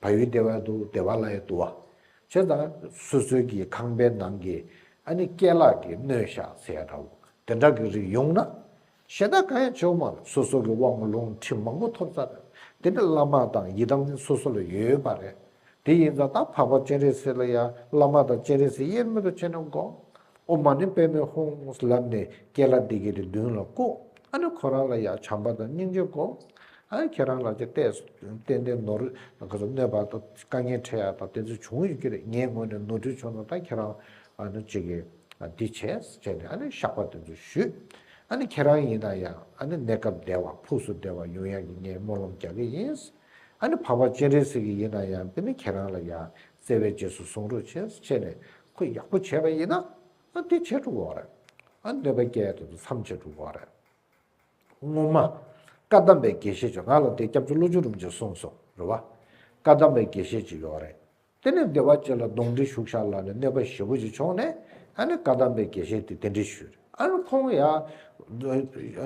བ་ཡུལ་བདེ་བའི་དུ་བདེ་བ་ལ་ཡི་དུ་བ། བྱས་ཙང་སོ་སོའི་གི་ཁང་པའི་ནང་གི་ཨ་ནི་སྐྱེ་ལག་གི་སྣོད་བཤགས་ཟས་འདྲ་བོ་དེ་འདྲ་གི་རིགས་ཡོང་ན། ཞེ་དྲག་གང་ཡང་བྱེའོ་མར་སོ་སོ་གི་དབང་ལུང་ཁྲིད་མང་པོ་ཐོབ་ཚར། དེ་ནི་བླ་མ་དང་ཡི་དམ་ནི་སོ་སོ་ལ་ཡོད་པ་རེད། དེ་ཡིན་ཙང་ད་འཕགས་པ་སྤྱན་རས་གཟིགས་ལ་ཡང་བླ་མ་དང་སྤྱན་རས་གཟིགས་དབྱེར་མེད་དུ་བྱས་ནས་དགོངས། ཨོ་མ་ནི་པད་མོའི་ཧོང་ངོས་ལབ་ནས་སྐྱེས་ལ་འདི་གས་དེ་མདུན་ལ་བཀུག། ཨ་ནི་ཁོ་རང་ལ་ཡང་བྱམས་པ་དང་སྙིང་རྗེ་བསྒོ། ཨ་ཁྱེད་རང་ལ་ཅི་བལྟས་སོ་ཏན་ཏན་ནོར། གནོད་པ་དང་དཀའ་ངལ་འཕྲད་ཡ་དང་དེ་ཚོ་བྱུང་ཡོད་ཀྱི་རེད་ངའི་ངོས་ནས་ནོར་འཁྲུལ་བྱུང་ན་ད་ཁྱེད་རང་ཨ་ནི་ཅིག་གིས་འདི་བྱས་བྱས་ནས་ཨ་ནི་ཤག་པ་དེ་ཚོ་བཞུས། ཨ་ནི་ཁྱེད་རང་ཡིན་ན་ཡང་ཨ་ནི་གནས་སྐབས་བདེ་བ་ཕུགས་སུ་བདེ་བ་ཡོང་ཡག་གི་ངས་སྨོན་ལམ་རྒྱག་གི་ཡིན། ཨ་ནི་བག་བག་ཅན་རེད་ཟེར་གྱི་ཡིན་ན་ཡང་འདི་ནི་ཁྱེད་རང་ལ་ཡང་བཙལ་བའི་རྗེས་སུ་ཟུངས་རུ་ཆེས་ཆེ་ནས་ཁོས་ཡག་པོ་བྱས་པ་ཡིན་ན་དེ་བྱེད་འགྲོ་བ་རེད། གནོད་པ་སྐྱེལ་དུ་མཚམས་ཆད་འགྲོ་བ་རེད། སྔོན་མ། བཀའ་གདམས་པའི་དགེ་བཤེས་ཀྱིས་ང་ལ་དེ་སྐྱབས་བཅོལ་ལོ་བཅུ་རུ་འཇུག་གསུངས་སོང་རེད། བཀའ་གདམས་པའི་དགེ་བཤེས་ཀྱིས་ཡོད་རེད། དེ་ནས་སྡེ་བ་བཅས་ལ་གདོང་འདྲི་ཞུགས་ཤག་ལབ་ནས་གནོད་པ་ཞེ་བོ་ཞིག་བྱུང་ནས་ཨ་ནི་བཀའ་གདམས་པའི་དགེ་བཤེས་དེ་དེ་འདྲས་ཞུས་རེད། ཨ་རོ་ཁོང་ཡ།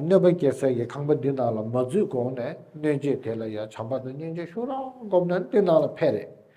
གནོད་པ་སྐྱེལ་སའི་ཡའི་ཁང་པ་འདི་ནང་ལ་མ་འཛུལ་གོང་ནས་གནོད་རྗེས་དེ་ལ་ཡ་བྱམས་པ་དང་སྙིང་རྗེ་ཞུ་རོགས་སྒོམ་ནས་འདི་ནང་ལ་ཕེབས་རེད།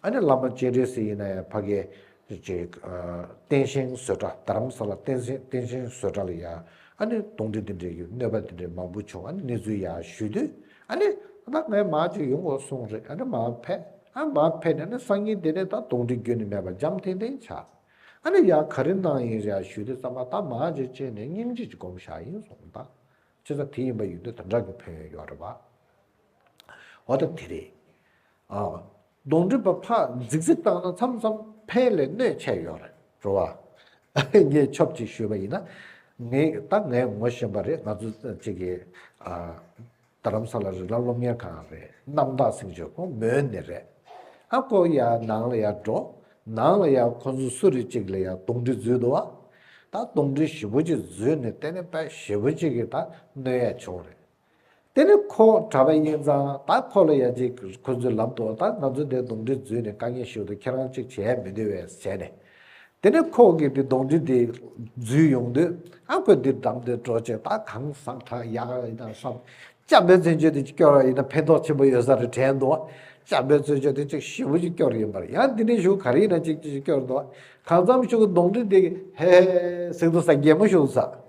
ཨ་ནེ་བླ་མ་སྤྱན་རས་གཟིགས་ཡིན་ན་ཡང་ཕ་གི། བསྟན་བཞེངས་བཟོད་གྲྭ་རྡ་རམ་ས་ལ་བསྟན་བཞེངས་བཟོད་གྲྭ་ལ་ཡང་ཨ་ནེ་གདོང་དྲི་འདི་འདྲའི་གི་གནོད་པ་འདི་འདྲའི་མང་པོ་བྱུང་ཨ་ནེ་གནས་ཚུལ་ཡང་ཞུས་དུས་ཨ་ནེ། ད་ང་ཡི་མ་ཅིག་ཡོང་དགོས་སོང་རེད་ཨ་ནེ་མ་ཕེད་ཨ་མ་ཕེད་ནས་ཨ་ནེ་སང་ཉིན་དེ་ནས་ད་གདོང་དྲི་རྒྱུན་ནས་མེད་པར་འཇམ་ཐིང་ཐིང་ཆགས། ཨ་ནེ་ཡང་ག་རེ་གནང་ཡིན་ཡང་ཞུས་དུས་ཙམ་པ་ད་མ་ཅིག་ཅིག་ནས་སྙིང་རྗེ་ཅིག་སྒོམ་བཞག་ཡིན་སོང་ད། ཅི་ཙམ་དེ་ཡིན་པ་ཡིན་དུས་ད་འདྲ་གི་ཕོན་ཡོད་རེད་པ། འོ་ད་དེ་རེད། གདོང་དྲི་བ་ཕག་འཛིག་འཛིག་བཏང་ན་མཚམས་མཚམས་ཕན་ལས་གནོད་ཆེ་ཡོད་རེད་འགྲོ་བ། ངས་ཆོབ་ཅིག་ཞུས་པ་ཡིན་ན། ངས་ད་ངས་ངོ་ཤེས་པ་རེད་ང་ཚོ་ཅིག་གི། རྡ་རམ་ས་ལ་རི་ལ་སློབ་གཉེར་ཁང་རེད་གནམ་བདག་སེང་ཆོས་ཁོང་མོའི་ནི་རེད། ཨ་ཁོ་ཡ་ནང་ལ་ཡ་འགྲོ། ནང་ལ་ཡ་ཁོ་ཚོ་སུ་རེད་ཅིག་ལ་ཡ་གདོང་དྲི་བཟོས་འདུག་ཨ། ད་གདོང་དྲི་ཞིབ་པོ་ཅིག་བཟོས་ནས་བལྟས་ན་དཔའ་ཞེ་པོ་ཅིག་གིས་ད་གནོད་ཡ་བྱུང་རེད། དེ་ནས་ཁོང་གྲྭ་པ་དབྱིན་ཚང་དང་ཁོ་ལོ་ཡ་ཅིག་ཁོ་ཚོའི་ལམ་དུ་ད་ང་ཚོ་འདིར་གདོང་དྲི་བརྫུས་ནས་དཀའ་ངལ་ཞུ་འདུག་ཁྱེད་རང་གཅིག་བྱེད་མི་འདོད་བས་བྱས་ནས། དེ་ནས་ཁོང་གིས་དེ་གདོང་དྲི་དེ་བརྫུས་ཡོང་དུས་ཨ་ཁོས་འདིར་འགྲམ་དུ་འགྲོ་ཆེད་ད་གང་བསམ་ད་ཡག་ཡིན་ན་བསམ། བཅའ་འབོད་བཙན་བྱོལ་དུ་སྐྱོར་བ་ཡིན་ན་ཕན་ཐོགས་ཆེན་པོ་ཡོད་ས་རེད་དྲན་འདུག་བཅའ་འབོད་བཙོན་བྱོལ་དུ་ཅིག་ཞི་བོ་ཅིག་སྐྱོར་གི་ཡིན་པར་ཡང་འདི་ནས་ཞུ་ག་རེ་ཡིན་ན་ཅིག་ཅིག་ཅིག་སྐྱོར་འདུག་གང་བརྩམ་ཞུ་གདོང་དྲི་དེ་ཧེ་ཧེ་ཟིག་འདུག་ས་རྒྱལ་མོ་ཞུ་ས།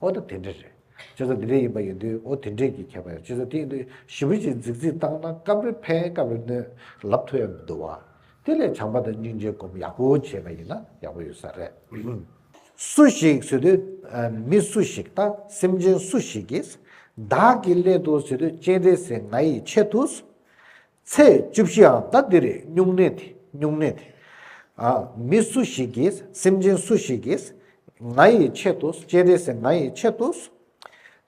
ཨོ་ད་དེ་འདྲས་རེད། ཁྱེད་ཚོ་འདི་འདྲས་ཡིན་པ་ཡིན་དུས་ཨོ་དེ་འདྲས་ཀྱི་ཁྱད་པར་ཡོད་ཁྱེད་ཚོ་དེ་ཡིན་དུས་ཞི་བུ་ཅིག་རྫིག་རྫིག་བཏང་ན་སྐབས་རེ་ཕན་སྐབས་རེ་གནོད་ལབ་ཐུབ་ཡང་མི་འདུག་བ། དེ་ལས་བྱམས་པ་དང་སྙིང་རྗེ་སྒོམ་ཡག་པོ་བྱས་པ་ཡིན་ན་ཡག་པོ་ཡོད་ས་རེད། སུ་ཞིག་ཟེར་དུས་མི་སུ་ཞིག་དང་སེམས་ཅན་སུ་ཞིག་གིས། བདག་གི་སླད་དུ་ཟེར་དུས་སྤྱན་རས་གཟིགས་ང་ཡི་ཆེད་དུ། ཚེས་བཅུ་བཞིའང་ཟླ་འདིར་སྨྱུང་གནས་ཏེ་སྨྱུང་གནས་ཏེ། མི་སུ་ཞིག་གིས་སེམས་ཅན་སུ་ཞིག་གིས། ང་ཡི་ཆེད་དུ་སྤྱན་རས་གཟིགས་ང་ཡི་ཆེད་དུ།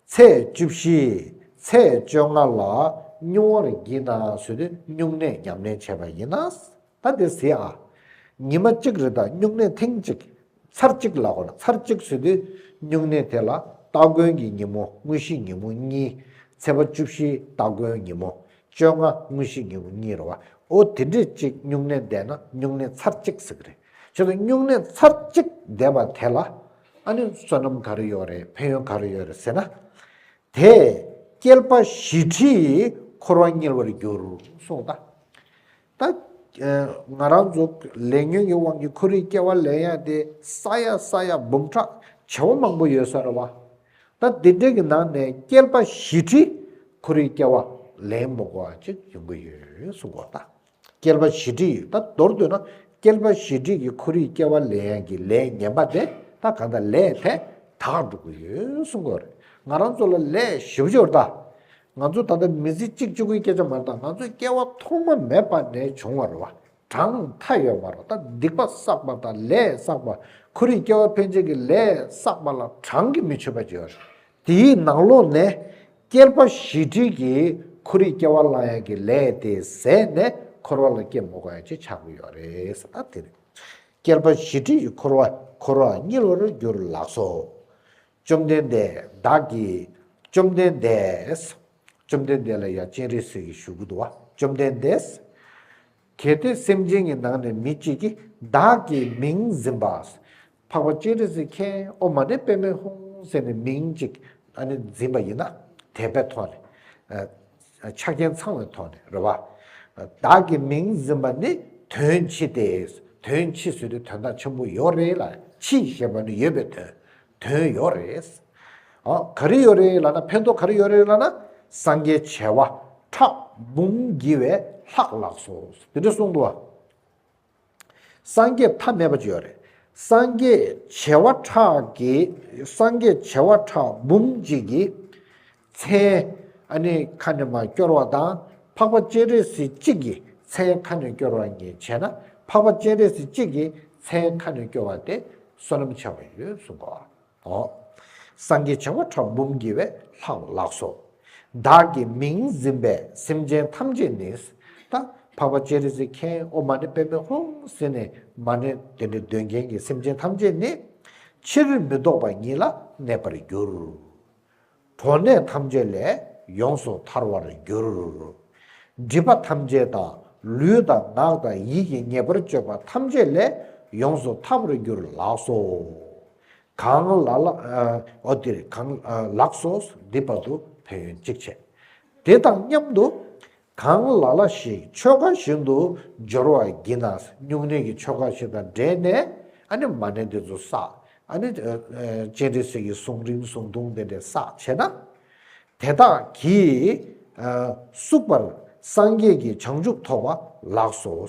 ཚེས་བཅུ་བཞི་ཚེས་བཅོ་ལྔ་ལ་སྨྱུང་བར་བགྱིད་ན་ཟོས་ཏེ་སྨྱུང་གནས་ཉམས་ལེན་བྱས་པ་ཡིན། ད་དེ་ཟེ་ཨ། ཉི་མ་གཅིག་རེ་དང་སྨྱུང་གནས་ཐེངས་གཅིག་ཚར་གཅིག་ལ་ཧོར་ཚར་གཅིག་ཚུད་དུས་སྨྱུང་གནས་དེ་ལ་སྟ་གོན་གྱི་ཉིན་མོ་དངོས་གཞི་ཉིན་མོ་གཉིས། ཚེས་པ་བཅུ་བཞིའི་སྟ་གོན་ཉིན་མོ་བཅོ་ལྔ་དངོས་གཞི་ཉིན་མོ་གཉིས་རེད་བ། ཨོ་དེ་འདྲས་གཅིག་སྨྱུང་གནས་འདས་ན་སྨྱུང་གནས་ཚར་གཅིག་ཟེར་གི་རེད། ཁྱོད་ཚོ་སྨྱུང་གནས་ཚར་གཅིག་འདས་པ་དེ་ལ། ཨ་ནི་བསོད་ནམས་ག་རེ་ཡོད་རེད་ཕན་ཡོན་ག་རེ་ཡོད་རེད་ཟེར་ན། དེས་བསྐལ་པ་བཞི་ཁྲི་ཡི་འཁོར་བ་བསྙིལ་བར་འགྱུར་གསུངས་གདའ། ད་ང་རང་ཚོ་ལས་ཉོན་གྱི་དབང་གིས་ཁོར་ཡུག་སྐྱེ་བ་ལེན་ཡག་དེ་ས་ཡ་ས་ཡ་འབུམ་ཕྲག་བྱེ་བ་མང་པོ་ཡོད་ས་རེད་བ། ད་དེ་འདྲའི་གི་ནང་ནས་སྐྱེར་པ་བཞི་ཁྲི་ཁོར་ཡུག་སྐྱེ་བ་ལེན་མོ་གོ་ཅིག་ཡོང་གི་ཡོད་གསུང་གོ་ད་སྐྱེར་པ་བཞི་ཁྲི་ཡོད་ད་མདོར་བསྡུ་ན་སྐྱེར་པ་བཞི་ཁྲི་གི་ཁོར་ཡུག་སྐྱེ་བ་ལེན་ཡག་གི་ལས་ཉན་པ་དེ་ད་གང་ད་ལས་དེ་དག་འགྲོ་གི་ཡོད་གསུང་གོ་རེད་ང་རང་ཚོ་ལ་ལས་བཞི་བཅུར་ད་ང་ཚོ་ད་ལྟ་མི་ཚེ་གཅིག་གཅིག་པོའི་སྐད་ཆ་མར་དང་ང་ཚོའི་སྐྱེ་བ་ཐོག་མ་མེད་པ་ནས་བྱུང་བར་བ་གྲངས་མཐའ་ཡོད་པར་ད་སྡིག་པ་བསགས་པ་དང་ལས་བསགས་པ་ཁོར་ཡུག་སྐྱེ་བ་འཕེལ་བྱེད་ཀྱི་ལས་བསགས་པ་ལ་གྲངས་ཀྱིས་མི་ཆོད་པ་བརྗོད་ཡོད། དེའི་ནང་ལོགས་ནས་སྐྱེར་པ་བཞི་ཁྲི་གིས་ཁོར་ཡུག་སྐྱེ་བ་བླང་ཡག་གི་ལས་དེ་ཟས་ནས་འཁོར་བ་ལ་སྐྱེ་མི་དགོས་ཡ་ཅེས་ཆགས་ཀྱི་ཡོད་རེད་ད་དེ་རེད། སྐྱེར་པ་བཞི་ཁྲི་ཡིས་འཁོར་བ་འཁོར་བ་བསྙིལ་བར་འགྱུར་ལགས་སོ། བཅོམ་ལྡན་འདས་བདག་གིས། བཅོམ་ལྡན་འདས། བཅོམ་ལྡན་འདས་ལ་ཡང་སྤྱན་རས་གཟིགས་ཀྱིས་ཞུ་གུ་དུ་བ་བཅོམ་ལྡན་འདས། གལ་ཏེ་སེམས་ཅན་གྱི་ནང་ནས་མི་གཅིག་གིས་བདག་གི་མིང་འཛིན་པ། འཕགས་པ་སྤྱན་རས་གཟིགས་ཁྱེད་ཨོ་མ་ནི་པདྨའི་ཧཱུྃ་ཟེར་ནས་མིང་གཅིག་འཛིན་པ་ཡིན་ན། དད་པས་ཐོགས་ནས། ཆ་རྐྱེན་ཚང་བའི་ཐོག་ནས་རེད། བདག་གི་མིང་འཛིན་པ་ནི་དོན་ཕྱི་སྟེ། དོན་ཕྱི་ཟེར་དུས་དོན་དག་ཆེན་པོ་ཡོད་རེད་ལ་ཕྱི་ཞེས་པ་ནི་ཡོད་པའི་དོན། དོན་ཡོད་རེད། ག་རེ་ཡོད་རེད་ལ་ན་ཕན་ཐོགས་ག་རེ་ཡོད་རེད་ལ་ན། སངས་རྒྱས་བྱེ་བ་ཕྲག་འབུམ་བགྱི་བའི་ལྷག་ལགས་སོ། དེ་འདྲ་གསུངས་འདུག་བ། སངས་རྒྱས་ཐ་མལ་པ་བརྗོད་རེ། སངས་རྒྱས་བྱེ་བ་ཕྲག་གི། སངས་རྒྱས་བྱེ་བ་ཕྲག་འབུམ་གཅིག་གི། མཚན། ཨ་ནི་ཁ་ནས་མ་སྐྱོར་བ་དང། འཕགས་པ་སྤྱན་རས་གཟིགས་གཅིག་གི། མཚན་ཁ་ནས་སྐྱོར་བ་ཉིད་བྱས་ན། འཕགས་པ་སྤྱན་རས་གཟིགས་གཅིག་གི། མཚན་ཁ་ནས་སྐྱོར་བ་སྟེ། བསོད་ནམས་བྱ་བ་ཡོད་གསུངས་པ། ཧོ། སངས་རྒྱས་བྱེ་བ་ཕྲག་འབུམ་བགྱི་བའི་ལྷག་ལགས་སོ། བདག་གི་མིང་འཛིན་པས་སེམས་ཅན་ཐམས་ཅད་ནི། ད་འཕགས་པ་ཅེ་རེ་ཟི་ཁའི་ཨོ་མ་ནི་པདྨའི་ཧཱུྃ་ཟེར་ནས་མ་ནི་དེ་འདྲའི་འདོད་མཁན་གྱི་སེམས་ཅན་ཐམས་ཅད་ནི། ཕྱིར་མི་ལྡོག་པ་ཉིད་ལ་གནས་པར་འགྱུར། གྲོགས་ནད་ཐམས་ཅད་ལས་ཡོངས་སུ་ཐར་བར་འགྱུར། སྒྲིབ་པ་ཐམས་ཅད་དང་ལུས་དང་ངག་དང་ཡིད་ཀྱི་ཉེས་པར་སྤྱོད་པ་ཐམས་ཅད་ལས་ཡོངས་སུ་ཐར་བར་འགྱུར་ལགས་སོ། གང། ཨོ་དེ། གང། ལགས་སོ། འདི་བར་དུ་ཕན་ཡོན་གཅིག་བྱས། དེ་དང་མཉམ་དུ། གང་ལ་ལ་ཞིག་ཆོ་ག་བཞིན་དུ་སྦྱོར་བར་བགྱིད་ན་སྨྱུང་གནས་ཀྱི་ཆོ་ག་བཞིན་དང་འབྲེལ་ནས་ཨ་ནི་མ་ནེ་འདི་ཚོ་བསགས་ཨ་ནི་སྤྱན་རས་གཟིགས་ཀྱི་གཟུངས་རིང་གཟུངས་ཐུང་དེ་འདྲས་བསགས་བྱས་ན། དེ་དག་གིས་སུག་པར་སངས་རྒྱས་ཀྱི་བྱང་ཆུབ་ཐོབ་པ་ལགས་སོ།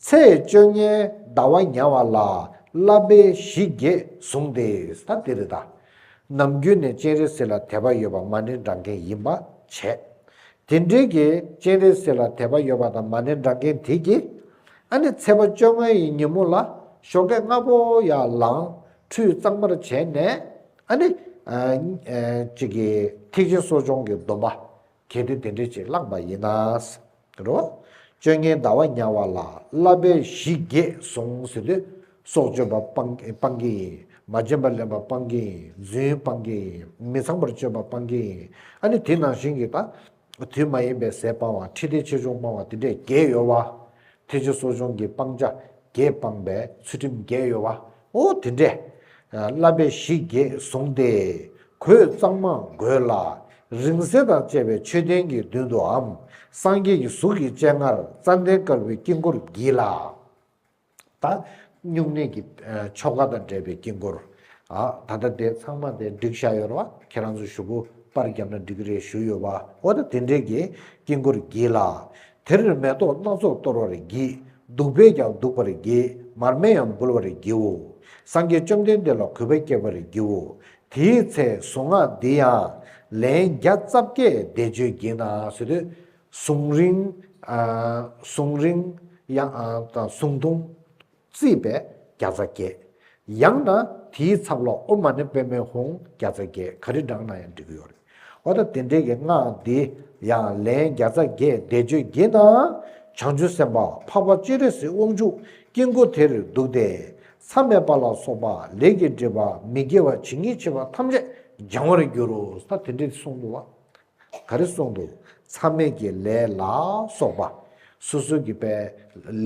ཚེས་བཅོ་ལྔའི་ཟླ་བ་ཉའ་བ་ལ་བསླབ་པའི་གཞི་བརྒྱད་བཟུང་སྟེ་ད་དེ་རེ་ད། ནམ་རྒྱུན་ནས་སྤྱན་རས་གཟིགས་ལ་དད་པ་ཡོད་པ་མ་ཎི་འདྲ་མཁན་ཡིན་པ་བྱས། དེ་འབྲེལ་གྱི་སྤྱན་རས་གཟིགས་ལ་དད་པ་ཡོད་པ་དང་མ་ཎི་འདྲ་མཁན་དེ་གྱིས། ཨ་ནི་ཚེས་པ་བཅོ་ལྔ་ཡི་ཉིན་མོ་ལ་ཞོ་ཀེག་ལྔ་པོ་ཡར་ལངས་ཁྲུས་གཙང་མར་བྱས་ནས། ཨ་ནི། ཅིག་གིས་ཐེག་ཆེན་གསོ་སྦྱོང་གི་སྡོམ་པ། གལ་ཏེ་དེ་འདྲའི་ཆེད་བླངས་པ་ཡིན་ན། རོ། སྤྱོད་ངན་ཟླ་བ་དམྱལ་བ་ལ་བསླབ་པའི་གཞི་བརྒྱད་བཟུང་ཟེར་དུས། སྲོག་གཅོད་པ་སྤང་གི་ཡིན། མ་བྱིན་པར་ལེན་པ་སྤང་གི་ཡིན། རྫུན་སྤང་གི་ཡིན། མི་ཚངས་པར་སྤྱོད་པ་སྤང་གི་ཡིན། ཨ་ནི་དེ་ནང་བཞིན་གྱི་དག། དུས་མ་ཡིན་པའི་ཟས་སྤང་བ་ཁྲི་སྟེ་ཆེ་ཆུང་སྤང་བ་དེ་འདྲས་བརྒྱད་ཡོད་བ། ཐེག་ཆེན་གསོ་སྦྱོང་གི་སྤང་བྱ་བརྒྱད་སྤངས་པས་ཚུལ་ཁྲིམས་བརྒྱད་གཡོ་བ། ཨོ་དེ་འདྲས། བསླབ་པའི་གཞི་བརྒྱད་བཟུང་སྟེ། གོས་གཙང་མ་བགོས་ལ། རིང་བསྲེལ་དང་བཅས་པའི་མཆོད་རྟེན་གྱི་མདུན་དུའམ། སངས་རྒྱས་ཀྱི་གཟུགས་ཀྱི་སྤྱན་སྔར་རྩ་མདའི་དཀར་པོའི་དཀྱིལ་འཁོར་བགྱིས་ལ། ད་བསྙུང་གནས་ཀྱི་ཆོ་ག་དང་འབྲེལ་པའི་དཀྱིལ་འཁོར། ད་ལྟ་དེ་ཚང་མ་དེ་འགྲིག་བཞག་ཡོད་རེད་བ། ཁྱེད་རང་ཚོ་ཞུ་སྐུ་པར་བརྒྱབ་ན་འགྲིག་གི་རེད་ཞུ་ཡོད་བ། ཨོ་ད་དེ་འདྲས་ཀྱི་དཀྱིལ་འཁོར་བགྱིས་ལ། དེར་མེ་ཏོག་སྣ་ཚོགས་གཏོར་བར་བགྱི། བདུག་པས་ཀྱང་བདུག་པར་བགྱི། མར་མེ་ཡང་འབུལ་བར་བགྱིའོ། སངས་རྒྱས་བཅོམ་ལྡན་འདས་ལ་གུས་པ་བསྐྱེད་པར་བགྱིའོ། དེའི་ཚེ་གཟུངས་སྔགས་འདི་ཡང། ལན་བརྒྱ་རྩ་བརྒྱད་བཟླས་བརྗོད་བགྱིས་ན། གཟུངས་རིང། གཟུངས་རིང། ཡང། གཟུངས་ཐུང། རྩིས་པས་བརྒྱ་རྩ་བརྒྱད། ཡང་ན་དེའི་ཚབ་ལོགས་ཨུ་མ་ནི་པད་མོའི་ཧོང་བརྒྱ་རྩ་བརྒྱད་ག་རེ་བསྒྲགས་ན་ཡང་འགྲིག་གི་ཡོད་རེད། འོ་ད་དེ་འདྲའི་གི་སྔགས་འདི་ཡང་ལན་བརྒྱ་རྩ་བརྒྱད་བཟླས་བརྗོད་བགྱིས་ན། བྱང་ཆུབ་སེམས་དཔའ་འཕགས་པ་སྤྱན་རས་གཟིགས་དབང་ཕྱུག་དཀྱིལ་འཁོར་དེར་འདུག་སྟེ། མཚམས་མེད་པ་ལ་སོགས་པ་ལས་ཀྱི་སྒྲིབ་པ་མི་དགེ་བ་ཇི་སྙེད་ཆེ་བ་ཐམས་ཅད་སྦྱང་བར་འགྱུར་རོ་ས་དེ་འདྲའི་གསུང་དུ་བ་ག་རེ་གསུངས་འདུག་མཚམས་མེད་ཀྱི་ལས་ལ་སོགས་པ། སོ་སོའི་གྱི་པའི་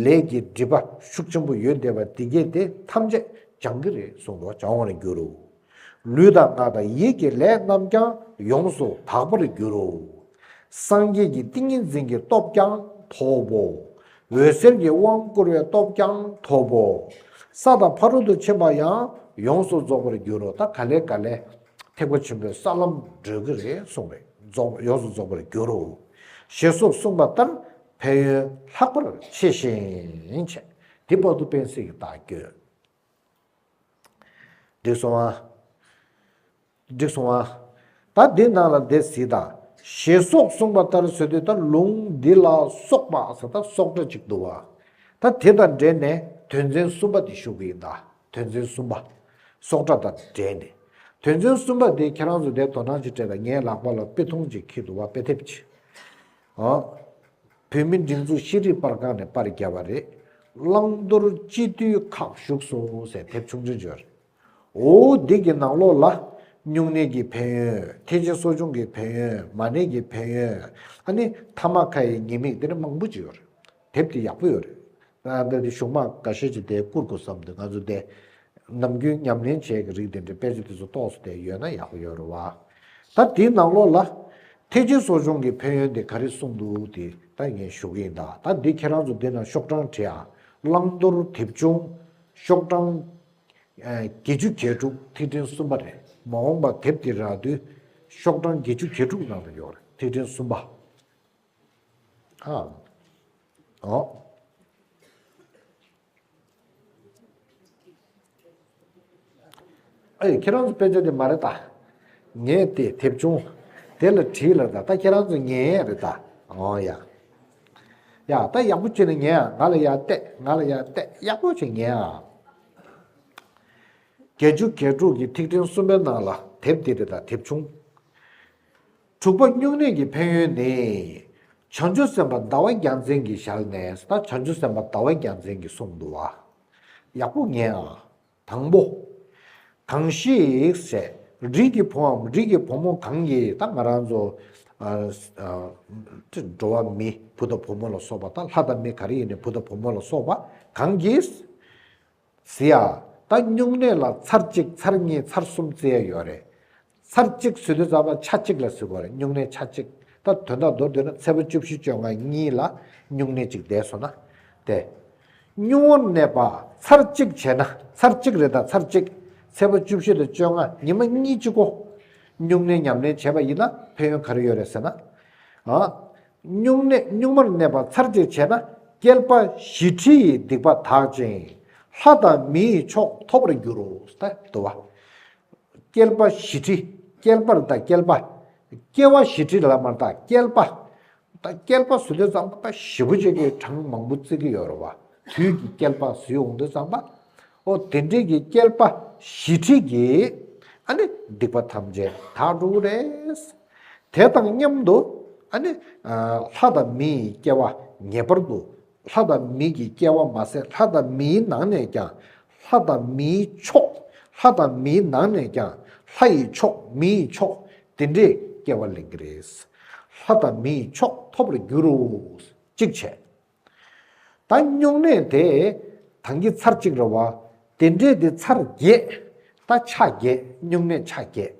ལས་ཀྱི་སྒྲིབ་པ་ཤུགས་ཆེན་པོ་ཡོད་འདས་པ་འདི་སྐད་དེ་ཐམས་ཅད་སྦྱང་གི་རེད་གསུངས་འདུག་སྦྱང་བར་འགྱུར་རོ། ལུས་དང་ངག་དང་ཡིད་ཀྱི་ལས་རྣམས་ཀྱང་ཡོངས་སུ་དག་པར་འགྱུར་རོ། སངས་རྒྱས་ཀྱི་ཏིང་ངེ་འཛིན་གྱི་སྟོབས་ཀྱང་ཐོབ་བོ། འོད་ཟེར་གྱི་དབང་བསྐུར་བའི་སྟོབས་ཀྱང་ཐོབ་བོ། ས་དང་ཕ་རོལ་ཏུ་ཕྱིན་པ་ཡང་ཡོངས་སུ་རྫོགས་པར་འགྱུར་རོ་ད་ག་ལས་ག་ལས། ཐེག་པ་ཆེན་པོའི་ས་ལམ་བགྲོད་ཀྱི་རེད་གསུངས་པས་རྫོགས་ཡོངས་སུ་རྫོགས་པར་འགྱུར་རོ། ཞེས་སོགས་གསུངས་པ་ལྟར་ཕན་ཡོན་ལྷག་པར་ཆེ་ཞིང་ཆེ། དེ་དཔག་ཏུ་དཔེན་བསྲེགས་ཀྱི་རྟགས་བསྐྱོད། འགྲིག་སོང་ཨ། འགྲིག་སོང་ཨ། ད་འདི་རྣམས་ལ་འདི་གཟིགས་དང། ཞེས་སོགས་གསུངས་པ་ལྟར་བཟོད་དུས་ད་ལུང་འདི་ལ་སོགས་པ་ཟ་ད་སོགས་སྒྲ་གཅིག་འདུ་བ། ད་དེ་དང་འབྲེལ་ནས་དོན་ཚན་གསུམ་པ་འདི་ཞུགས་ཀྱི་ཡིན་ད། དོན་ཚན་གསུམ་པ། སྲོག་ཁྲ་དང་འབྲེལ་ནས། དོན་ཚན་གསུམ་པ་དེ་ཁྱེད་རང་ཚོ་དེ་དོ་སྣང་ཅིག་སྤྲད་ད་ངའི་ལག་པ་ལ་དཔེ་ཐུང་ཅིག་འཁྱིལ་འདུག་བ་དཔེ་དེབ་ཅིག་ཨ། བོད་མི་སྒྲིག་འཛུགས་ཤེས་རིག་པར་ཁང་ནས་པར་བརྒྱབ་པ་རེད། བླང་དོར་སྤྱི་མཐུས་ཁག་བཞུགས་སོང་ཟེར་དེབ་ཆུང་ཆུང་ཅིག་རེད། འོ་འདི་གི་ནང་ལོགས་ལ། སྨྱུང་གནས་ཀྱི་ཕན་ཡོན། ཐེག་ཆེན་གསོ་སྦྱོང་གི་ཕན་ཡོན་མ་གནས་ཀྱི་ཕན་ཡོན། ཨ་ནི་དྷརྨ་ཁ་ཡའི་ཉེས་དམིགས་འདི་རིགས་མང་པོ་ཅིག་ཡོད་རེད། དེབ་དེ་ཡག་པོ་ཡོད་རེད། དཔེར་ན་གཞུང་དམངས་འགའ་ཤས་ཀྱིས་དེ་བསྐུར་དགོས་བསམ་འདུག་ང་ཚོ་དེ། ནམ་རྒྱུན་ཉམས་ལེན་བྱས་ཀྱི་རིགས་དེ་འདྲའི་དཔེ་ཆ་དེ་ཚོ་གཏོགས་སུ་བསྡད་ཡོད་ན་ཡག་པོ་ཡོད་རེད་བ། ད་དེའི་ནང་ལོགས་ལ། ཐེག་ཆེན་གསོ་སྦྱོང་གི་ཕན་ཡོན་དེ་ག་རེ་གསུངས་འདུག་དེ་ད་ངས་ཞུ་གི་ཡིན་ད། ད་འདི་ཁྱེད་རང་ཚོ་འདི་ན་ཤོག་གྲངས་བྲིས་ཨ། བླང་དོར་དེབ་ཆུང། ཤོག་གྲངས། བརྒྱད་ཅུ་གྱ་དྲུག་ཐིག་ཕྲེང་གསུམ་པ་རེད། མ་འོངས་པ་དེབ་དེ་རག་དུས། ཤོག་གྲངས་བརྒྱད་ཅུ་གྱ་དྲུག་ནང་དུ་ཡོད་རེད་ཐིག་ཕྲེང་གསུམ་པ། ཨ། ཨོ། ཨ་ཡེ་ཁྱེད་རང་ཚོ་དཔེ་ཆ་དེ་མ་རེད་ད། ངས་དེ་དེབ་ཆུང་དེ་ལ་བྲིས་ལ་ད་ད་ཁྱེད་རང་ཚོ་ཉན་ཡས་རེད་ད། ཨོ་ཡ། ཡ་ད་ཡག་པོ་བྱོས་ནས་ཉན་ཨ་ང་ལ་ཡ་བལྟས་ང་ལ་ཡ་བལྟས་ཡག་པོ་བྱོས་ཉན་ཨ། བརྒྱད་ཅུ་གྱ་དྲུག་གི་ཐིག་ཕྲེང་གསུམ་པའི་ནང་ལ་དེབ་འདི་རེད་ད་དེབ་ཆུང། དྲུག་པ་སྨྱུང་གནས་ཀྱི་ཕན་ཡོན་ནི། བྱང་ཆུབ་སེམས་དཔའ་ཟླ་བ་རྒྱ་མཚན་གྱི་ཞལ་ནས་ད་བྱང་ཆུབ་སེམས་དཔའ་ཟླ་བ་རྒྱ་མཚན་གྱི་གསུང་དུ་བ། ཡག་པོ་ཉན་ཨ། དང་པོ། གང་ཞིག། རིགས་ཀྱི་བུའམ་རིགས་ཀྱི་བུ་མོ་གང་གིས་ད་ང་རང་ཚོ། འགྲོ་བ་མི་བུ་དང་བུ་མོ་ལ་སོགས་པ་དང་ལྷ་དང་མི་ག་རེ་ཡིན་ནས་བུ་དང་བུ་མོ་ལ་སོགས་པ་གང་གིས། བཟི་ཡ། ད་སྨྱུང་གནས་ལ་ཚར་གཅིག་ཚར་གཉིས་ཚར་གསུམ་བརྩི་ཡ་ཡོད་རེད། ཚར་གཅིག་བཟི་དུས་རྩ་བ་ཆ་གཅིག་ལ་བཟི་དགོས་རེད་སྨྱུང་གནས་ཆ་གཅིག་ད་དོན་དག་མདོར་བསྡུས་ན་ཚལ་བུ་བཅུ་བཞི་བཅོ་ལྔ་གཉིས་ལ་སྨྱུང་གནས་གཅིག་བསྡད་སོང་ན། དེ། སྨྱུང་བོར་གནས་པ་ཚར་གཅིག་བྱས་ན་ཚར་གཅིག་རེད་ད་ཚར་གཅིག་ཚལ་བུ་བཅུ་བཞི་དང་བཅོ་ལྔ་ཉི་མ་གཉིས་གཅིག་གོ། སྨྱུང་གནས་ཉམས་ལེན་བྱས་པ་ཡིན་ན་ཕན་ཡོན་ག་རེ་ཡོད་རེད་ཟེར་ན། སྨྱུང་གནས་སྨྱུག་མར་གནས་པ་ཚར་གཅོད་བྱས་ན་སྐྱེལ་པ་བཞི་ཁྲི་ཡི་སྡིག་པ་དག་ཅིང་ལྷ་དང་མི་ཡི་མཆོག་ཐོབ་པར་འགྱུར་རོ། དུ་བ། སྐྱེལ་པ་བཞི་ཁྲི་སྐྱེལ་པར་དང་སྐྱེལ་པ། སྐྱེ་བ་བཞི་ཁྲི་ལ་མར་དང་སྐྱེལ་པ། དང་སྐྱེལ་པ་ཟུ་འདོད་ཙམ་པ་བཞི་པོ་ཅིག་གིས་གྲངས་མང་པོ་བརྩི་གི་ཡོད་རོ། བ་དུས་ཀྱི་སྐྱེལ་པ་ཟུའི་འོང་འདོད་ཙམ་པ། ཨོ་དེ་འདྲིས་ཀྱི་བསྐལ་པ་བཞི་ཁྲི་ཀྱི། ཨ་ནི་སྡིག་པ་ཐམས་ཅད་དག་འགྲུབ་བོ། དེ་དང་མཉམ་དུ་ཨ་ནི། ལྷ་དང་མི་ཡི་སྐྱེ་བ་ངེས་པར་དུ། ལྷ་དང་མི་གྱི་སྐྱེ་བ་མ་ཟད་ལྷ་དང་མིའི་ནང་ནས་ཀྱང། ལྷ་དང་མིའི་མཆོག། ལྷ་དང་མིའི་ནང་ནས་ཀྱང། ལྷ་ཡི་མཆོག་མི་ཡི་མཆོག་དེ་འདྲས་སྐྱེ་བ་ལེན་གྱི་རེད། ལྷ་དང་མི་ཡི་མཆོག་ཐོབ་པར་འགྱུར་རོ། ཅིག་བྱས། ད་སྨྱུང་གནས་དེ་དང་གི་ཚར་གཅིག་རེད་བ། དེ་འདྲས་དེ་ཚར་བརྒྱད། ད་ཆ་བརྒྱད་སྨྱུང་གནས་ཆ་བརྒྱད།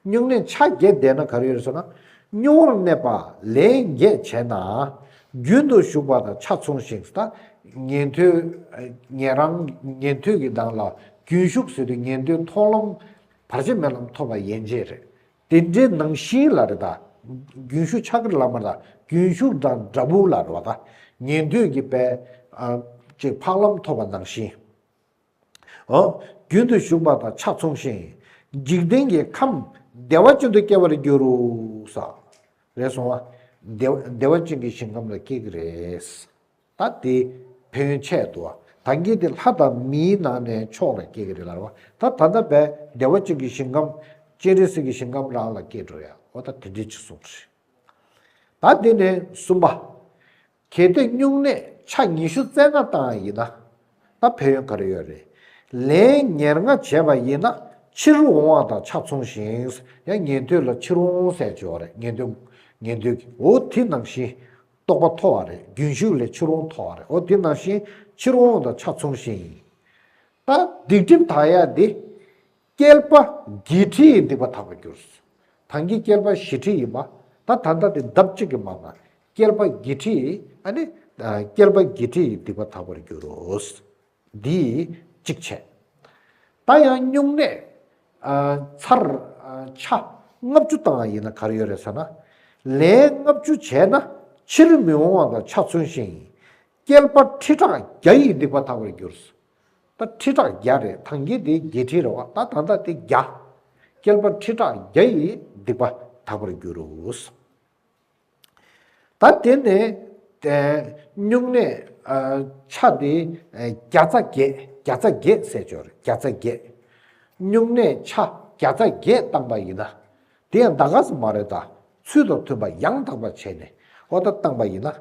སྨྱུང་གནས་ཆ་བརྒྱད་བསྡད་ན་ག་རེ་ཡོད་ཟེར་ན། སྨྱུང་བོར་གནས་པ་ལས་འགྱེད་བྱས་ན། རྒྱུན་དུ་ཞུགས་པ་དང་ཆ་མཚུངས་ཤིང་ཟད། ཉན་ཐོས་ཉན་རང་ཉན་ཐོས་ཀྱི་གདངས་ལ་རྒྱུན་ཞུགས་ཟེར་དུས་ཉན་ཐོས་མཐོང་ལམ་བར་ཆད་མེད་ལམ་ཐོབ་པ་ཡན་ཆད་རེད། དེ་འདྲའི་ནང་བཞིན་ལ་རེ་དཱ། རྒྱུན་ཞུགས་ཕྱག་རྒྱ་བླ་མ་ལ། རྒྱུན་ཞུགས་དང་དགྲ་བོ་ལ་རོ་དཱ། ཉན་ཐོས་ཀྱི་དཔལ། ཅེས་འཕགས་ལམ་ཐོབ་པ་ནང་བཞིན། ཧཱུྃ། རྒྱུན་དུ་ཞུགས་པ་དང་ཕྱག་མཚུངས་ཤིང། འཇིག་རྟེན་གྱི་ཁམས། བདེ་བ་ཅན་དུ་སྐྱེ་བར་འགྱུར་རོ། སོ། རེ་སོང་བ། བདེ་བ་ཅན་གྱི་ཞིང་ཁམས་ལ་སྐྱེ་གི་རེད། ད་དེ་བོན་ཆད་དུ་ད་ངེས་ཏེ་ལྷ་དང་མིའི་ནང་ནས་མཆོག་ལ་སྐྱེ་གི་རེད་ལར་བ་ད་ད་ལྟ་བས་བདེ་བ་ཅན་གྱི་ཞིང་ཁམས་སྤྱན་རས་གཟིགས་ཀྱི་ཞིང་ཁམས་རང་ལ་སྐྱེ་འགྲོ་ཡ་ཨོ་ད་དེ་འདྲའི་ཅི་གསུང་རེད། ད་དེ་ནས་གསུམ་པ། གལ་ཏེ་སྨྱུང་གནས་ཕྱག་ཉི་ཤུ་རྩེ་ལྔ་བཏང་ཡིན་ན་ད་ཕན་ཡོན་ག་རེ་ཡོད་རེད། ལན་ཉེར་ལྔ་བྱས་པ་ཡིན་ན་ཕྱིར་འོང་བ་དང་ཆ་མཚུངས་ཤིང་ཡང་ཉན་ཐོས་ལ་ཕྱིར་འོང་ཟས་བཅུ་ཡོད་རེད་ཉན་ཐོས་ཉན་ཐོས་ཀྱི་འོ་དེ་ནང་བཞིན་རྟོགས་པ་མཐོ་བ་རེད་རྒྱུན་ཞུགས་ལས་ཕྱིར་འོང་མཐོ་བ་རེད་ཨོ་དེ་ནང་བཞིན་ཕྱིར་འོང་དང་ཆ་མཚུངས་ཤིང་ཡིན། ད་སྡིག་སྒྲིབ་དག་ཡ་དེ། བསྐལ་པ་བརྒྱད་ཁྲི་ཡི་སྡིག་པ་དག་པར་གྱུར། ད་འགི་བསྐལ་པ་བཞི་ཁྲི་ཡིན་པ། ད་ད་ལྟ་དེ་འདབ་གཅིག་གི་མ་མ། བསྐལ་པ་བརྒྱད་ཁྲི་ཡི་ཨ་ནི། བསྐལ་པ་བརྒྱད་ཁྲི་ཡི་སྡིག་པ་དག་པར་འགྱུར། འདིས་གཅིག་བྱས། ད་ཡང་སྨྱུང་གནས། ཚར། ཆ། ལྔ་བཅུ་བཏང་བ་ཡིན་ན་གར་ཡོད་རེད་ས་ན། ལན། ལྔ་བཅུ་བྱས་ན་ཕྱིར་མི་འོང་བ་དང་ཆ་མཚོན་ཞིང་ཡིན། སྐྱེལ་པ་ཁྲི་ཕྲག་བརྒྱ་ཡིས་འདེགས་པ་དག་པར་གྱུར། ད་ཁྲི་ཕྲག་བརྒྱ་རེད་ཐང་རྒྱལ་དེ་བརྒྱད་ཁྲི་རེད་བ་ད་ད་ད་དེ་བརྒྱ། སྐྱེལ་པ་ཁྲི་ཕྲག་བརྒྱ་ཡིས་འདེགས་པ་དག་པར་གྱུར། ད་དེ་ནས་སྨྱུང་གནས་ཆ་དེ་བརྒྱ་རྩ་བརྒྱད་བརྒྱ་རྩ་བརྒྱད་བསད་སྦྱོར་བརྒྱ་རྩ་བརྒྱད། སྨྱུང་གནས་ཆ་བརྒྱ་རྩ་བརྒྱད་བཏང་པ་ཡིན་ན། དེ་ཡང་འདའ་ཁ་སུ་མ་རེད་ད་ཚུལ་དང་མཐུན་པ་ཡང་དག་པར་བྱས་ནས་ཨོ་ད་བཏང་པ་ཡིན་ན།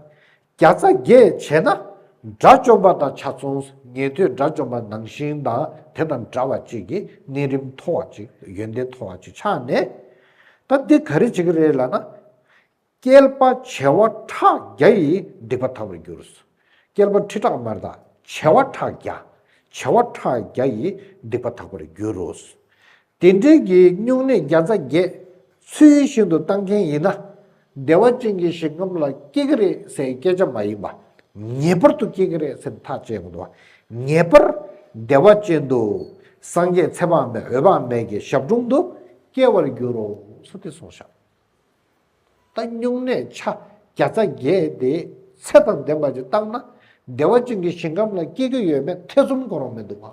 བརྒྱ་རྩ་བརྒྱད་བྱས་ན་དགྲ་བཅོམ་པ་དང་ཆ་མཚུངས་ཉན་ཐོས་དགྲ་བཅོམ་པ་ནང་བཞིན་དང་དེ་དང་འདྲ་བ་ཅིག་གིས་གནས་རིམ་མཐོ་བ་ཅིག་ཡོན་ཏན་མཐོ་བ་ཅིག་ཆགས་ནས། ད་འདི་ག་རེ་བྱེད་ཀྱི་རེད་ལ་ན། བསྐལ་པ་བྱེ་བ་ཕྲག་བརྒྱ་ཡིས་སྡིག་པ་དག་པར་འགྱུར། བསྐལ་པ་ཁྲི་ཕྲག་མར་དག་བྱེ་བ་ཕྲག་བརྒྱ། བྱེ་བ་ཕྲག་བརྒྱ་ཡིས་སྡིག་པ་དག་པར་འགྱུར་རོ། དེ་འབྲེལ་གྱི་སྨྱུང་གནས་བརྒྱ་རྩ་བརྒྱད། ཚུལ་བཞིན་དུ་བཏང་མཁན་ཡིན་ན། བདེ་བ་ཅན་གྱི་ཞིང་ཁམས་ལ་སྐྱེ་གི་རེད་ཟེར་སྐད་ཆ་མ་ཡིན་པ། ངེས་པར་དུ་སྐྱེ་གི་རེད་ཟེར་ཐག་བཅད་དགོས་འདུག་ངེས་པར་བདེ་བ་ཅན་དུ། སངས་རྒྱས་ཚེ་དཔག་མེད་འོད་དཔག་མེད་ཀྱི་ཞབས་དྲུང་དུ་སྐྱེ་བར་འགྱུར་རོ་སོ་སྟེ་གསུངས་ཤག་ད་སྨྱུང་གནས་ཆ་བརྒྱ་རྩ་བརྒྱད་དེ་ཚད་དང་ལྡན་པ་ཅིག་བཏང་ན་བདེ་བ་ཅན་གྱི་ཞིང་ཁམས་ལ་སྐྱེ་གི་ཡོད་མེད་ཐེ་ཚོམ་གོ་རང་མི་འདུག་ག།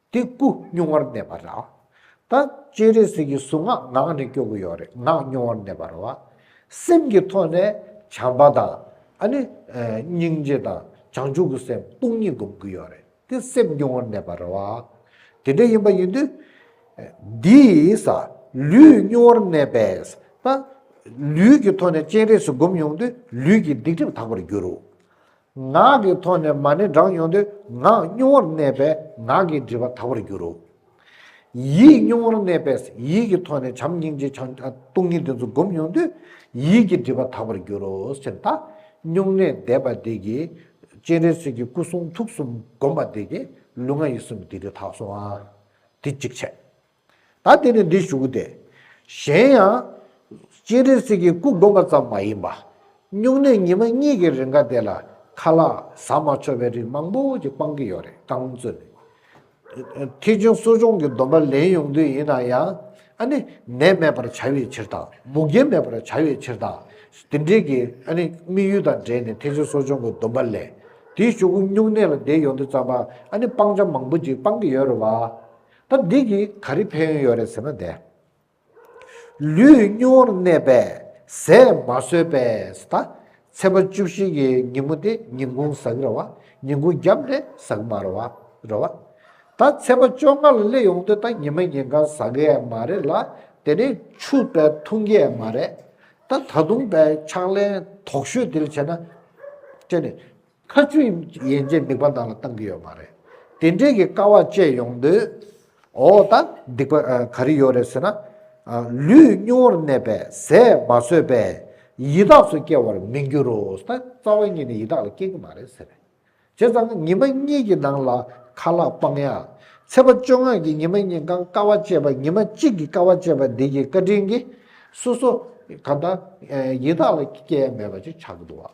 དེ་སྐུ་བསྙུང་བར་གནས་པ་ར། ད་སྤྱན་རས་གཟིགས་ཀྱི་གཟུངས་སྔགས་ངག་ནས་སྐྱོ་བོ་ཡོག་རེ་ངག་བསྙུང་བར་གནས་པ་ར་བ། སེམས་ཀྱི་ཐོག་ནས་བྱམས་པ་དང། ཨ་ནི། སྙིང་རྗེ་དང་བྱང་ཆུབ་ཀྱི་སེམས་སྟོང་ཉིད་བསྒོམ་དགོས་ཡོག་རེ་དེ་སེམས་བསྙུང་བར་གནས་པ་ར་བ། དེ་འདྲ་ཡིན་པ་ཡིན་དུས། འདིས། ལུས་བསྙུང་བར་གནས་པས། ད། ལུས་ཀྱི་ཐོག་ནས་སྤྱན་རས་གཟིགས་བསྒོམ་ཡོང་དུས་ལུས་ཀྱི་སྡིག་སྒྲིབ་དག་པར་འགྱུར་རོ། ངག་གི་ཐོག་ནས་མ་ནི་བསྒྲགས་མྱོང་དུས་ངག་སྨྱུང་བོར་གནས་པས་ངག་གི་སྒྲིབ་པ་དག་པར་འགྱུར་རོ། ཡིད་སྨྱུང་བོར་གནས་པས་ཡིད་ཀྱི་ཐོག་ནས་བྱམས་སྙིང་རྗེ་འཆང་སྟོང་ཉིད་འདི་ཚོ་བསྒོམ་མྱོང་དུས་ཡིད་ཀྱི་སྒྲིབ་པ་དག་པར་འགྱུར་རོ་ཟེར། ད་སྨྱུང་གནས་བཟླས་པ་འདི་ཀྱིས་སྤྱན་རས་གཟིགས་ཀྱི་སྐུ་གསུང་ཐུགས་གསུམ་བསྒོམ་པ་འདི་ཀྱིས་ལུས་ངག་ཡིད་གསུམ་གྱི་སྡིག་སྒྲིབ་དག་སོང་ཨང། དེ་གཅིག་བྱས། ད་དེ་ནི་འདི་བཞུགས་ཏེ། གཞན་ཡང། སྤྱན་རས་གཟིགས་ཀྱི་སྐུ་བསྒོམ་པ་ཙམ་མ་ཡིན་པ། སྨྱུང་གནས་ཉི་མ་གཉིས་ཀྱི་རེ་འགའ་དེ་ལ་ཁ་ལག་ཟ་མ་འཆོར་བའི་རིགས་མང་པོ་ཅིག་སྤང་གི་ཡོད་རེད་བསྐང་བརྩོན་ནི། ཐེག་ཆེན་གསོ་སྦྱོང་གི་སྡོམ་པ་ལེན་ཡོང་དུས་ཡིན་ན་ཡང། ཨ་ནི། ནད་མེད་པར་བྱ་བའི་ཕྱིར་དང་མུ་གེ་མེད་པར་བྱ་བའི་ཕྱིར་དང། དེ་འབྲེལ་གྱི་ཨ་ནི་དམིགས་ཡུལ་དང་འབྲེལ་ནས་ཐེག་ཆེན་གསོ་སྦྱོང་གི་སྡོམ་པ་ལས། དེ་བཞུགས་སྨྱུང་གནས་ལ་བསྡད་ཡོང་དུས་ཙམ་པ་ཨ་ནི་སྤང་བྱ་མང་པོ་ཅིག་སྤང་གི་ཡོད་རེད་བ། ད་འདི་གིས་ག་རེ་ཕན་ཡོན་ཡོད་རེད་ཟེར་ན་དེ། ལུས་སྙིང་བོར་གནས་པས་ཟས་མ་ཟོས་པས་ད་ཚེས་པ་བཅུ་བཞི་གི་ཉིན་མོ་དེ་ཉིན་གུང་ཟག་ར་བ་ཉིན་གུང་རྒྱབ་ནས་ཟག་མ་ར་བ་ར་བ། ད་ཚེས་པ་བཅོ་ལྔ་ལ་སླེབས་ཡོང་དུས་ད་ཉི་མ་ཉིན་གང་ཟག་གི་ཡས་མ་རེད་ལ་དེ་ནས་ཆུ་པའི་འཐུང་གི་ཡས་མ་རེད། ད་ད་དུང་པའི་ཕྱག་ལེན་དོགས་ཤོས་དེ་ལ་བྱས་ན། དེ་ནི། ཁ་མཆུ་ཡན་ཆད་སྡིག་པ་དག་ལ་བཏང་གི་ཡོད་མ་རེད། དེ་འདྲའི་གི་དཀའ་བ་སྤྱད་ཡོང་དུས། འོ་ད་སྡིག་པ་ག་རེ་ཡོད་རེད་ཟེར་ན། ལུས་སྙིང་བོར་གནས་པས་ཟས་མ་ཟོས་པས་ཡི་དྭགས་སུ་སྐྱེ་བར་མི་འགྱུར་རོ། ད་རྩ་བ་ཉིད་ནས་ཡི་དྭགས་ལ་སྐྱེ་གི་མ་རེད་ཟེར། བྱས་ཙང་ཉི་མ་གཉིས་ཀྱི་ནང་ལ་ཁ་ལག་སྤང་ཡ། ཚེས་པ་བཅོ་ལྔ་གི་ཉི་མ་གཉིས་རྐང་དཀའ་བ་སྤྱད་པ་ཉི་མ་གཅིག་གི་དཀའ་བ་སྤྱད་པ་འདི་གི་བཀའ་དྲིན་གྱིས་སོ་སོ་གང་ད་ཡི་དྭགས་ལ་སྐྱེ་ཡ་མེད་པ་ཅིག་ཆགས་གི་འདུག་བ།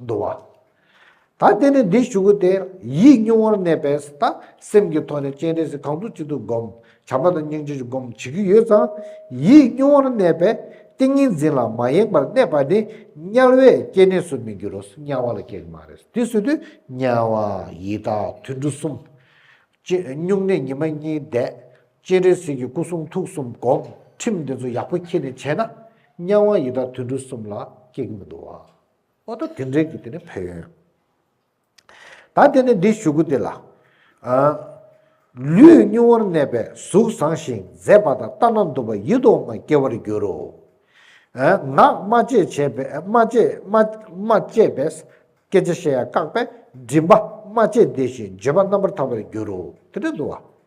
འདུ་བ། ད་དེ་ནས་འདི་ཞུ་གི་སྟེ། ཡིད་བསྙུང་བར་གནས་པས་ད་སེམས་ཀྱི་ཐོག་ནས་སྤྱན་རས་གཟིགས་གང་དུ་ཅི་འདུག་བསྒོམ། བྱམས་པ་དང་སྙིང་རྗེ་ཆུ་བསྒོམ་བྱེད་ཀྱི་ཡོད་ཙང། ཡིད་བསྙུང་བར་གནས་པས་ཏིང་ངེ་འཛིན་ལ་མ་ཡེངས་པར་གནས་པ་ནི་དམྱལ་བའི་སྐྱེ་གནས་སུ་མི་འགྱུར་རོ། དམྱལ་བ་ལ་སྐྱེ་གི་མ་རེད། དེ་སུ་དུས། དམྱལ་བ། ཡི་དྭགས་དུད་འགྲོ་གསུམ། སྤྱན་བསྙུང་གནས་ཉི་མ་གཉིས་བསྡད། སྤྱན་རས་གཟིགས་ཀྱི་སྐུ་གསུང་ཐུགས་གསུམ་བསྒོམ། ཁྲིམས་འདི་ཚོ་ཡག་པོ་འཁྱེར་ནས་བྱས་ན། དམྱལ་བ་ཡི་དྭགས་དུད་འགྲོ་གསུམ་ལ་སྐྱེ་གི་མི་འདུག་བ། ཨོ་ཏོ་དེ་འདྲའི་གི་དེ་ནི་ཕན་ཡོན། ད་དེ་ནས་འདི་ཞུ་གུ་དེ་ལ། ལུས་སྙུང་བར་གནས་པའི་གཟུགས་བཟང་ཞིང་མཛེས་པ་དང་ལྟ་ན་སྡུག་པ་ཡིད་དུ་འོང་བ་སྐྱེ་བར་འགྱུར་རོ། ངག་སྨྲ་བཅད་བྱས་པས་སྐད་ཆ་བཤད་ཡ་བཀག་པས་མགྲིན་པ་སྨྲ་བཅད་བདེ་ཞིང་བརྗོད་པ་རྣམ་པར་དག་པར་འགྱུར་རོ། དེ་འདྲ་འདུག་བ།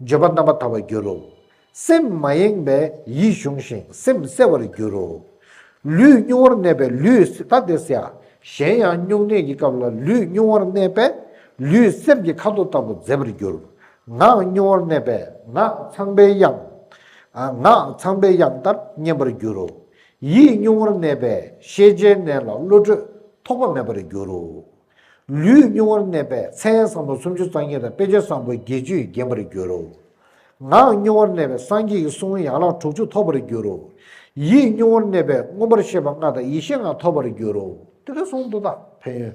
བརྗོད་པ་རྣམ་པར་དག་པར་འགྱུར་རོ། སེམས་མ་ཡེངས་པས་ཡིད་གཞུངས་ཤིང་སེམས་གསལ་བར་འགྱུར་རོ། ལུས་སྨྱུང་བར་གནས་པས་ལུས་ད་དེ་སེ་ཨ། གཞན་ཡང་སྨྱུང་གནས་ཀྱི་སྐབས་ལ་ལུས་སྨྱུང་བར་གནས་པས་ལུས་གསེར་གྱི་ཁ་དོག་ལྟ་བུ་མཛེས་པར་འགྱུར། ངག་སྨྱུང་བར་གནས་པས་ངག་ཚངས་པའི་དབྱངས། ངག་ཚངས་པའི་དབྱངས་ལྟར་སྙན་པར་འགྱུར་རོ། ཡིད་སྨྱུང་བར་གནས་པས་ཤེས་བྱའི་གནས་ལ་བློ་གྲོས་ཐོགས་པ་མེད་པར་འགྱུར་རོ། ལུས་བསྙུང་བར་གནས་པས་ཚེའི་བསམ་བློ་སུམ་ཅུ་རྩ་གཉིས་དང་དཔེ་བྱད་བཟང་པོ་བརྒྱད་ཅུས་བརྒྱན་པར་འགྱུར་རོ། ངག་བསྙུང་བར་གནས་པས་སངས་རྒྱས་ཀྱི་གསུང་དབྱངས་ཡན་ལག་དྲུག་ཅུ་ཐོབ་པར་འགྱུར་རོ། ཡིད་བསྙུང་བར་གནས་པས་མངོན་པར་ཤེས་པ་ལྔ་དང་ཡེ་ཤེས་ལྔ་ཐོབ་པར་འགྱུར་རོ། ཏི་ལི་སུམ་མདོ་དང་ཕན་ཡོན།